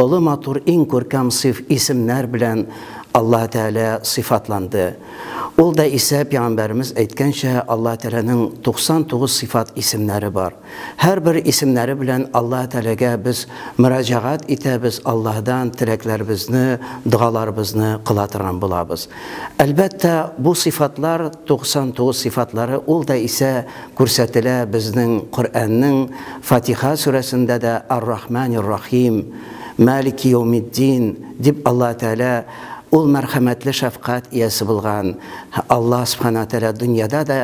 Олы матур иң күркәм сыйф исемнәр белән Аллаһ Тәгалә сыйфатланды. Ул да исә пәйгамбәребез әйткәнчә, Аллаһ Тәгаләнең 99 сыйфат исемнәре бар. Һәрбер исемнәре белән Аллаһ Тәгаләгә без мөрәҗәгать итәбез, Аллаһдан теләкләребезне, догаларыбызны кыла торган булабыз. Әлбәттә, бу сыйфатлар 99 сыйфатлары ул да исә күрсәтелә безнең Коръәннең Фатиха сүрәсендә дә Ар-Рахманир-Рахим, Малики-йәүмид-дин дип Аллаһ Тәгалә Ул мәрхәмәтле шәфкать иясе булган Аллаһ Сүбхәнәһү Тәгалә дөньяда да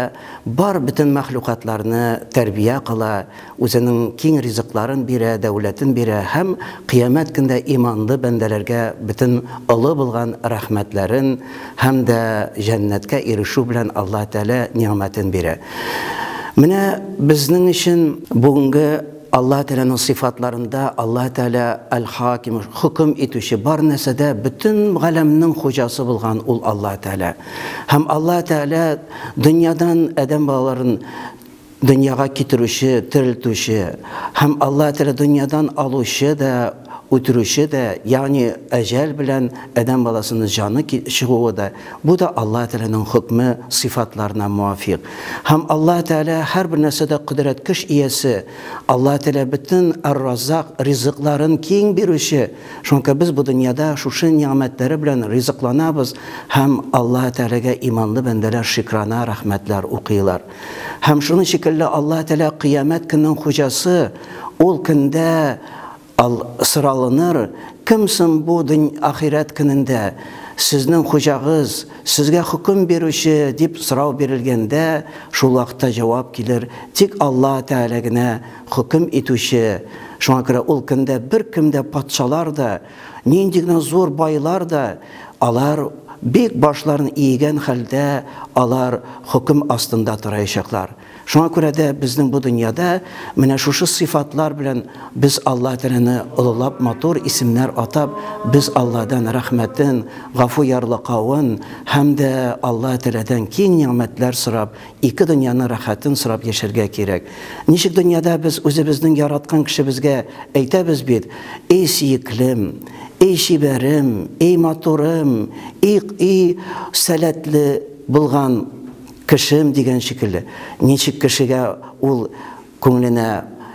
бар бөтен мәхлукатларны тәрбия кыла, Үзенең киң ризыкларын бирә, дәүләтен бирә һәм Кыямәт көндә иманлы бәндәләргә бөтен олы булган рәхмәтләрен һәм дә җәннәткә ирешү белән Аллаһ Тәгалә нигъмәтен бирә. Менә безнең өчен бүгенге Аллаһ Тәгаләнең сыйфатларында Аллаһ Тәгалә Әл-Хаким, хөкем итүче, бар нәрсәдә бөтен галәмнең хуҗасы булган ул Аллаһ Тәгалә. Һәм Аллаһ Тәгалә дөньядан адәм балаларын Дөньяга китерүче, терелтүче, һәм Аллаһы Тәгалә дөньядан алучы да, үтерүче дә, ягъни әҗәл белән адәм баласының җаны чыгуы да, бу да Аллаһы Тәгаләнең хөкме, сыйфатларына муафикъ. Һәм Аллаһы Тәгалә һәрбер нәрсәдә кодрәт көч иясе, Аллаһы Тәгалә бөтен Әр-Раззак, ризыкларын киң бирүче, шуңа күрә без бу дөньяда шушы нигъмәтләре белән ризыкланабыз, һәм Аллаһы Тәгаләгә иманлы бәндәләр шикрана рәхмәтләр укыйлар. Һәм шуның шикелле Аллаһ Тәгалә кыямәт көннең хуҗасы, ул көндә ал соралыныр, кем соң бу ахирәт көнендә сезнең хуҗагыз, сезгә хөкем бирүче дип сорау бирелгәндә, шул вакытта җавап килер, тик Аллаһ Тәгалә генә хөкем итүче. Шуңа күрә ул көндә беркем дә патшалар да, Нинди генә зур байлар да, алар бик башларын иегән хәлдә, алар хөкем астында тораячаклар. Шуңа күрә дә безнең бу дөньяда менә шушы сыйфатлар белән без Аллаһ Тәгаләне олылап, матур исемнәр атап, без Аллаһдан рәхмәтен, гафу ярлыкавын һәм дә Аллаһ Тәгаләдән киң нигъмәтләр сорап Ике дөньяның рәхәтен сорап яшәргә кирәк. Ничек дөньяда без үзебезнең яраткан кешебезгә әйтәбез бит, Эй, сөеклем! Эй, чибәрем! Эй, матурым! И, и, сәләтле булган кешем! дигән шикелле. Ничек кешегә ул Күңеленә,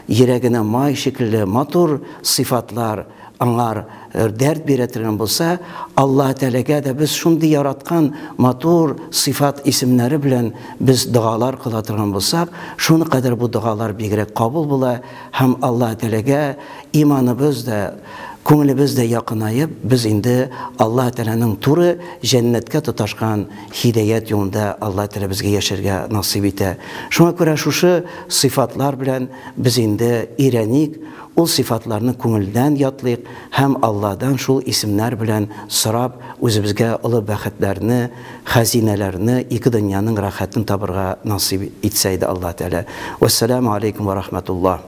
йөрәгенә май шикелле матур сыйфатлар аңар дәрт бирә торган булса, Аллаһ Тәгаләгә дә без шундый яраткан матур сыйфат исемнәре белән без догалар кыла торган булсак, шуны кадәр бу догалар бигрәк кабул була һәм Аллаһ Тәгаләгә иманыбыз да, Күңелебез дә якынаеп, без инде Аллаһ Тәгаләнең туры җәннәткә тоташкан һидәят юлында Аллаһ Тәгалә безгә яшәргә насыйп итә. Шуңа күрә шушы сыйфатлар белән без инде өйрәник, ул сыйфатларны күңелдән ятлыйк һәм Аллаһдан шул исемнәр белән сорап, үзебезгә олы бәхетләрне, хәзинәләрне, ике дөньяның рәхәтен табырга насыйп итсә иде Аллаһ Тәгалә. Вәссәламү аләйкүм вә рахмәтуллаһ.